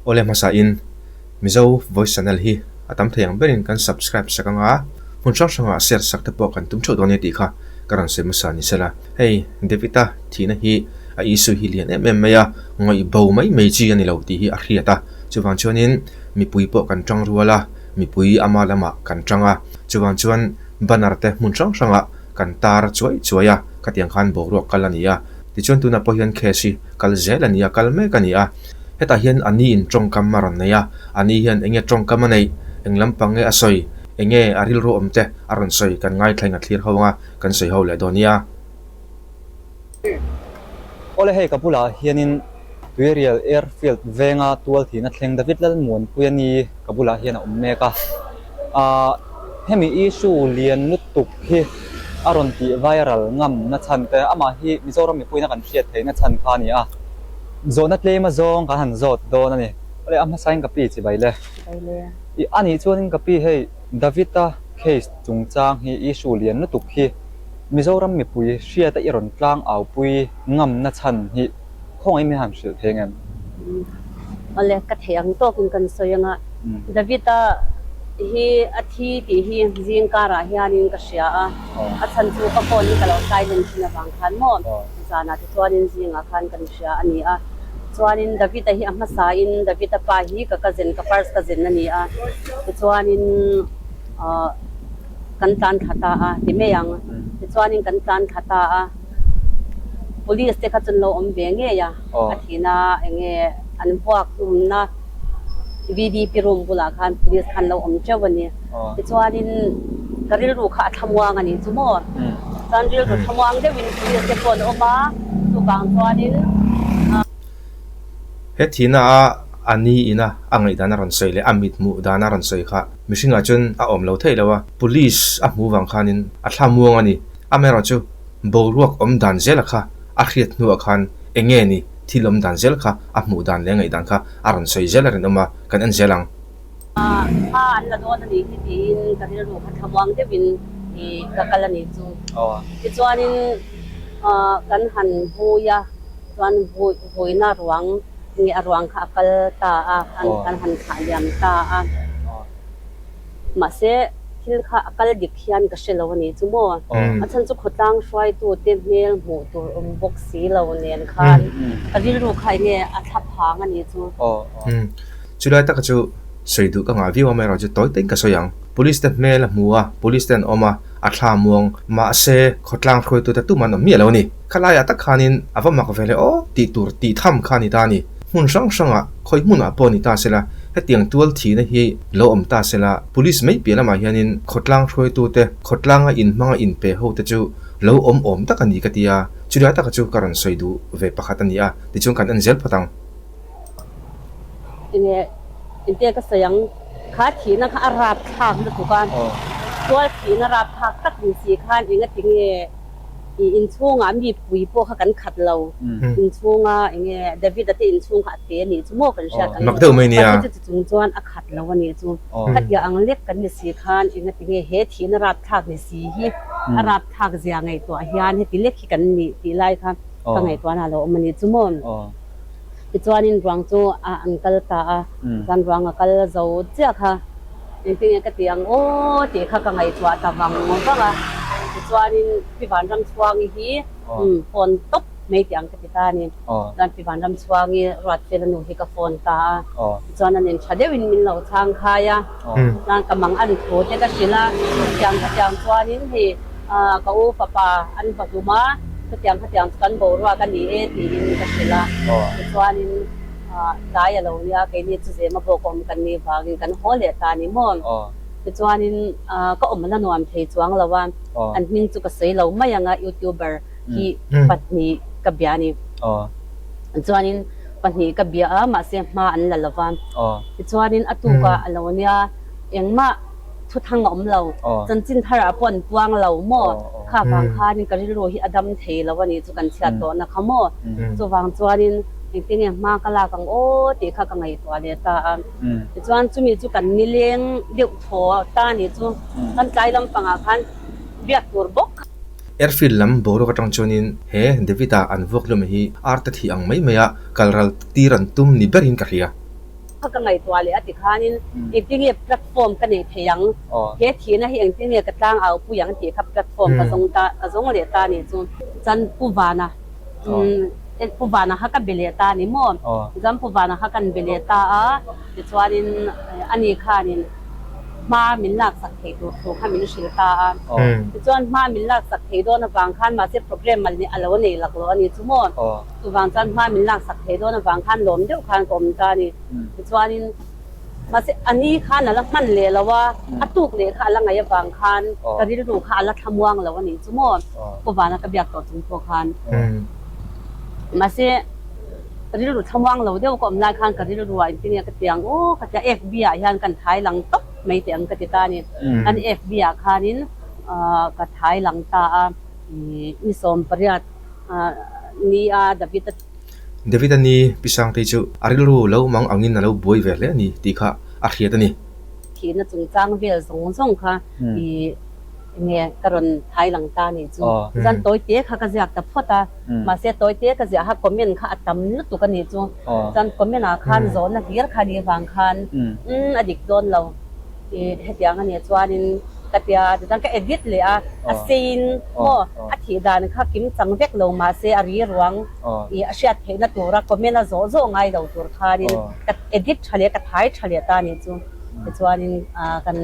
Awle hmasa in Mizo voice channel hi a tam thei ang ber in kan subscribe sak ang a, hmun hrang hrang ah share sak te pawh kan tum theuh dawn nia tih kha ka rawn sawi hmasa ni se la. Hei David a thihna hi a issue hi lian em em mai a, ngawih bo mai mai chi a ni lo tih hi a hriat a, chuvang chuan in mipui pawh kan tang rual a, mipui ama lamah kan tang a, chuvang chuan banner te hmun hrang hrang ah kan tar chuai chuai a, khatiang khan boruak kal a ni a, tichuan tunah pawh hian case hi kal zel a ni a, kal mek a ni a, hetah hian a ni'n tawngkam a rawn nei a, a ni hian enge tawngkam a neih, eng lampang nge a sawi, enge a rilru awm te a rawn sawi kan ngaithla in a thlir ho ang a, kan sawi ho leh dawn nia. Awle hei ka bulah hianin Tuirial Airfield venga tual thihna thleng David Lalmuanpui a ni ka bulah hian a awm mek a. Aah hemi issue lian lutuk hi a rawn tih viral ngamna chhan te amah hi Mizoram mipuina kan hriat theihna chhan kha a ni a. Zawhna tlema zawng kan han zawt dawn a ni. Awle a hmasa in ka pi chi bai le. Anih chuan in ka pi hei David-a case chungchang hi issue lian lutuk hi. Mizoram mipui hriata i rawn tlang au pui ngamna chhan hi khawngaih mai han hrilh thei ang em? Awle, ka theih ang tawkin kan sawi anga, Davita hi a thi tih hi zingkarah hianin ka hria a, a chhan chu ka phone hi ka lo hlaihlun thin avang khan maw zanah te chuanin zingah khan kan hria a ni a. Chuanin Davita hi a hmasain Davita pa hi ka cousin ka purse ka zen a ni a, tichuanin aw. Kan tlan thla ta a, ti mai ang. Tichuanin kan tlan thla ta a, police te kha chu an lo awm ve ngei a, a thihna eng nge an vuak umna VVIP room bulah khan police kha an lo awm teuh a ni. Tichuanin ka rilru kha a thlamuang a nih chu maw. Chuan rilru thlamuang deuhin police te pawh an awm a, chuvang chuanin. He thihna a, a ni ina a ngaihdan a rawn sawi leh a mithmuh dan a rawn sawi kha. mihringah chuan a awm lo thei lo a, police a hmu vang khanin a thla muang a ni. A mayor chu boruak awm dan zela kha a hriat hnuah khan eng nge ni thil awm dan zel kha a hmuh dan leh ngaih dan kha a rawn sawi zel a rinawm a, kan en zel ang. Kha an la dawn a nih hi tiin ka rilru kha thlamuang deuhin i ka kal a nih chu. Tichuanin kan han vui a, chuan vui. Huina ruang nge a ruang kha a kal ta a, an han khah liam ta a. Mahse, thil kha a kal dik hian ka hre lo a ni chu maw? A chhan chu khawtlang hruaitute hmel hmuh tur awm bawk si lo nen khan ka rilru kha enge a thlap phang a nih chu? Chu lai taka chu sawi duh ka ngah viau a, Myra chu tawi taiin ka sawi ang. Police te hmel a hmu a, Police te an awm a, a thla muang. Mahse, khawtlang hruaitute tum an awm miah lo a ni. Khalaiah tak khanin a va mak ve leh aw tih tur tih tham kha a ni ta a ni. Hmun hrang hrangah khawi hmunah pawh a ni ta sela, hetiang tual thihna hi lo awm ta sela, Police mai piah lamah hianin khawtlang hruaitute, khawtlanga in hmanga in pe hote chu lo awm awm tak a ni ka ti a, chulai taka chu ka rawn sawi duh ve pakhat a ni a, tichuan kan en zel phawt ang. Enge engte ka sawi ang, kha thihna kha a rapthlak lutuk a, tual thihna rapthlak tak ni si khan engatinge? I inchhungah mipui pawh kha kan khat lo, inchhunga enge Davida te inchhung kha a pe a nih chu maw kan hriat ang e, Pathian chu tichung chuan a khat lo a nih chu. Khatiah ang lek kan ni si khan engatinge he thihna rapthlak ni si hi a rapthlak zia ngaihtuah hian heti lek hi kan ni tih lai kha ka ngaihtuahna lo awm a nih chu maw. Tichuanin ruang chu a an kal ta a, chuan ruang a kal zo chiah kha. Engtinge ka ti ang aw tih kha ka ngaihtuah ta vang vang a, tichuanin Pi Vanramchhuangi hi phone tawp mai tih ang ka ti ta a ni. Chuan Pi Vanramchhuangi Ruatfela nu hi ka phone ta a, tichuan a nen tha deuhin min lo chhang khai a, chuan ka mang a ri thu te ka hrilh a, hetiang hetiang chuanin hei. a, ka u fapa an va hlum a, khatiang khatiang chu kan boruak a ni e tiin ka hrilh a, tichuanin tlai a lo nia keini chu zema bawk awm kan nih vangin kan haw leh ta ni maw? Tichuanin ka awm la nuam thei chuang lo a, an hming chu ka sawi lo mai ang a, youtuber hi pahnih ka bia a ni, tichuanin pahnih ka bia a, mahse hma an la lova, tichuanin a tukah a lo nia engmah. Thuthang a awm lo, chanchin tharah pawh an puang lo maw? Kha vang khanin ka rilru hi a dam thei lo a nih chu kan chhiat tawh nakha maw? Chuvang chuanin engtin nge hma ka lak ang aw tih kha ka ngaihtuah leh ta a. Tichuan chumi chu kan nileng deuh thaw ta nih chu kan tlai lampangah khan biak tur bawk kha. Airfield lam boruak atang chuanin he David-a an vuak hlawm hi arta thih ang mai mai a, kal ral tir an tum ni berin ka hria. Kha ka ngaihtuah leh a ti khanin engti nge platform ka nei thei ang? He thihna hi engti nge ka tlang au pui ang tih kha platform ka zawng ta ka zawng leh ta ni chu. Chuan Pu Vana umm Pu Vana kha ka be leh ta ni maw? Chuan Pu Vana kha kan be leh ta a tichuanin ani khanin hma min laksak thei tur thu kha min hrilh ta a. Tichuan hma min laksak thei dawn avang khan mahse program mal ni a lo nei lak lo a ni chu maw? Chuvang chuan hma min laksak thei dawn avang khan lawm deuh khan ka awm ta a ni. Tichuanin mahse a ni khan a la hman leh lo a, a tuk leh kha a la ngaih avang khan ka rilru kha a la thlamuang lo a nih chu maw? Khua vana ka biak tawh chung pawh khan mahse rilru thlamuang lo deuh ka awm lai khan ka rilruah engtin nge ka ti ang u? Ka ti a, FB ah hian ka thlai lang tawp mai teh ang ka ti ta a ni. An FB ah khanin ka thlai lang ta a, i ni sawm pariat. ni a David a. David a ni pisangte chu a rilru lo mang angin a lo buai ve hle a ni tih kha a hriat a ni. Thihna chungchang vel zawng zawng kha i enge ka rawn hailang ta nih chu chuan tawi te kha ka ziak ta phawt a, mahse tawi te ka ziah a comment kha a tam lutuk a nih chu chuan comment ah khan zawhna hlir kha nih vang khan umm a dik dawn lo. I hetiang ania chuanin ka tia a tichuan ka edit leh a, a seiin maw a thih dan kha kim chang vek lo mahse a rilruang I a hriat theihna tura comment a zawh zawh ngai lo tur khanin ka edit tha leh ka thai tha leh ta nih chu tichuanin kan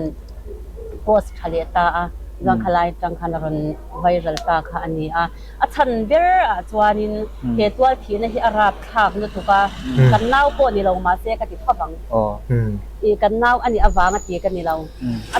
post tha leh ta a tichuan khalaia tang khan a rawn viral ta kha ania. A chhan ber ah chuanin he tual thihna hi a rap thlak lutuk a, kan nau pawh ni lo mahse ka ti thap ang. I kan nau a nih avang a ti ka ni lo. A.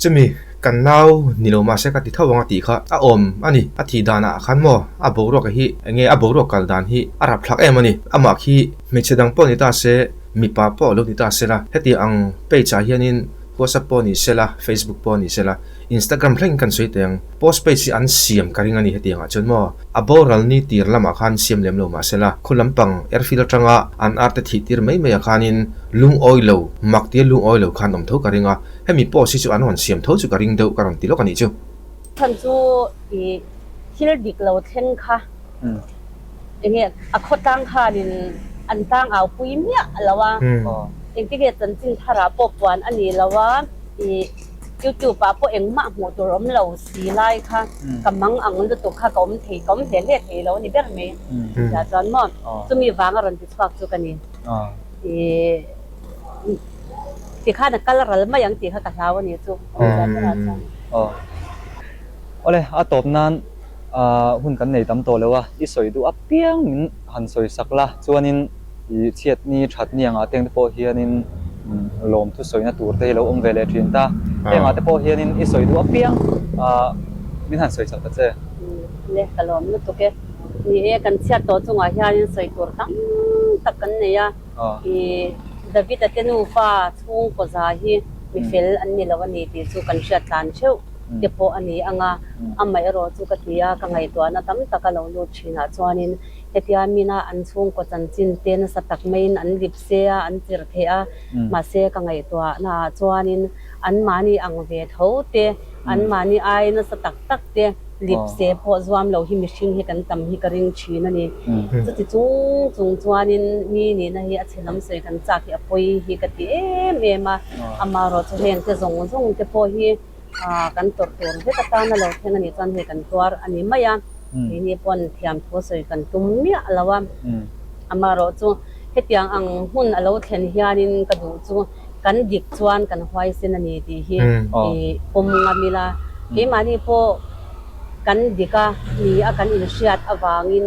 Chumi kan nau ni lo mahse ka ti thap ang a tih kha a awm a ni. A tih dan ah khan maw a boruak hi eng nge a boruak kal dan hi a rap thlak em a ni. Amah khi hmeichhe dang pawh a ni ta se mipa pawh a lo ni ta sela hetiang page ah hianin huasa pawh a ni sela facebook pawh a ni sela Instagram thlengin kan sawi teh ang, post page hi an siam ka ring a ni hetiangah chuan maw? A boral ni tir lamah khan siam lem lo mah se la, khua lampang airfield atanga an arte thih tir mai maiah khanin lungawi lo, mak tir lungawi lo khan awm tho ka ring a, hemi post hi chu an rawn siam tho chu ka ring deuh ka rawn ti lawk a nih chu. Chhan chu i thil dik lo thleng kha enge a khaw tlang khanin an tlang au pui miah lo a, engtinnge chanchin tharah pawh puan a ni lo a, i. Youtube ah pawh engmah hmuh tur awm lo si lai kha ka mang ang lutuk kha ka awm thei ka awm hle hle thei lo ni ber mai tia chuan maw chumi vanga rawn ti chhuak chu ka ni tikhan a kal ral mai ang tih kha ka hlau ani chu tia berah chuan. Awle a tawp nan hun kan nei tam tawh lo a i sawi duh apiang min. han sawisak la, chuanin i chhiat ni that ni angah te ang te pawh hianin lawm thu sawina tur te hi lo awm ve leh thin ta. Hei angah te pawh hianin i sawi duh apiang a, min han sawi chak ta che. Nge, ka lawm lutuk e. Ni e, kan chhiat tawh chungah hianin sawi tur tam tak kan nei a. I Davita te nufa chhung kawza hi mi fel an ni lo a ni tih chu kan hriat tlan theuh te pawh a ni ang a, amaherawhchu ka ti a, ka ngaihtuahna tam tak a lo lut. thinah chuanin hetia mina an chhungkaw chanchin te nasa tak maiin an lip se a, an chirh theih a, mahse ka ngaihtuah naah chuanin anmahni ang ve tho te, anmahni ai nasa tak tak te lip se pawh zuam lo hi mihring hi kan tam hi ka ring thin a ni. Chuti chung chung chuanin mi nihna hi a chhelam sawi kan chak hi a pawi hi ka ti em em a, amaherawhchu hengte zawng zawng te pawh hi, Aa, kan tawrh tur vek atan a lo thleng a nih chuan hei kan tuar a ni mai a, keini pawn thiamthu sawi kan tum miah a lo a. Amaherawh chu hetiang ang hmun a lo thlen hianin ka duh chu kan dik chuan kan huaisen a ni tih hi i pawm ngam ila, keimahni pawh kan dika ni a kan inhriat avangin,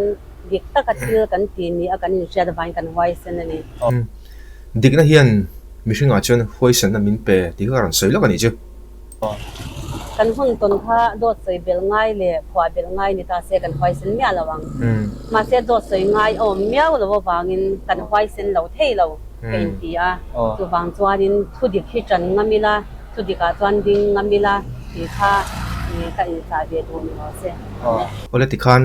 dik taka thil kan ti ni a kan inhriat avangin kan huaisen a ni. Dikna hian mihringah chuan huaisanna min pe tih kha a rawn sawi lawk a nih chu. Kan hun tawn kha dawt sawi bel ngai leh phuah bel ngai ni ta se kan huaisen miah lo ang. Mahse dawt sawi ngai awm miau lo avangin kan huaisen lo thei lo ka inti a. Chuvang chuanin thu dik hi tan ngam ila, thu dikah chuan ding ngam ila tih kha ka inchah ve duh ni lo se. Awle tikhan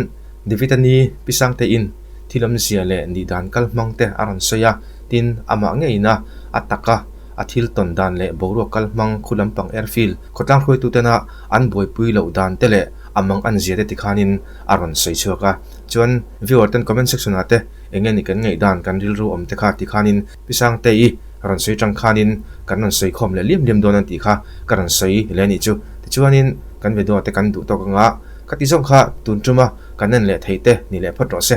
David a ni pi sangtein thil awmzia leh nih dan kal hmang te a rawn sawi a, tin amah ngeiin a a tak a, a thil tawn dan leh boruak kal hmang khu lampang er fil khawtlang hruaituten ah an buaipui loh dan te leh a mang an zia te ti khanin a rawn sawi chhuak a, chuan viewer ten comment section ah te enge nih kan ngaih dan kan rilru awm te kha ti khanin Pisangtei i rawn sawi tang khanin kan rawn sawi khawm leh liam liam dawn an tih kha ka rawn sawi leh anih chu. Tichuanin kan ve duahte kan duh tawk anga ka ti zawk kha tun tuma kan en leh theite ni leh phawt rawh se.